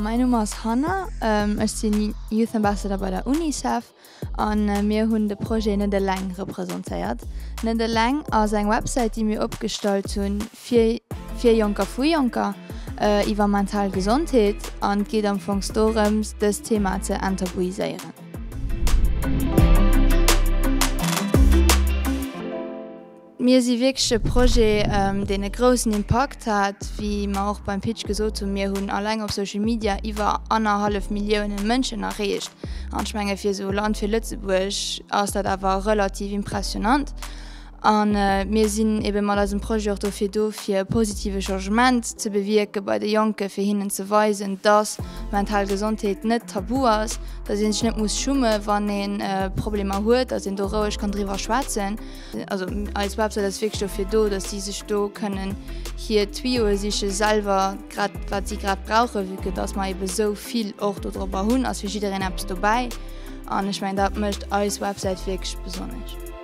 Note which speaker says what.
Speaker 1: Mäin Numm ass Hanna, ech sinn Youth Ambassador bei der Unicef an mir hunn de Projet net eleng representéiert. Net eleng ass eng Websäit, déi mir opgestallt hunn fir fir Jonker vu Jonker iwwer mental Gesondheet an d'geet am Fong dorëms dëst Thema ze enttabuiséieren. Mir si wierklech e Projet, deen e groussen Impakt hat. Wéi mer och beim Pitch gesot hunn, mir hunn eleng op Social Media iwwer annerhallef Milliounen Mënschen erreecht. An ech menge fir esou e Land wéi Lëtzebuerg ass dat awer relativ impressionnant. A mir sinn ebe mat eisem Projet och dofir do, fir e positive Changement ze bewierke bei de Jonke, fir hinnen ze weisen, dass mental Gesondheet net tabu ass, dass ee sech net muss schumme wann ee Problemer huet, dass een do roueg kann driwwer schwätzen. Also eis Websäit ass wierklech dofir do, dass si sech do kënnen hir Tuyauxe siche selwer, grad wat si grad brauchen, vue que dass mer ebe esou vill och dodropper hunn, ass fir jiddereen eppes dobäi. An ech mengen dat mécht eis Websäit wierklech besonnesch.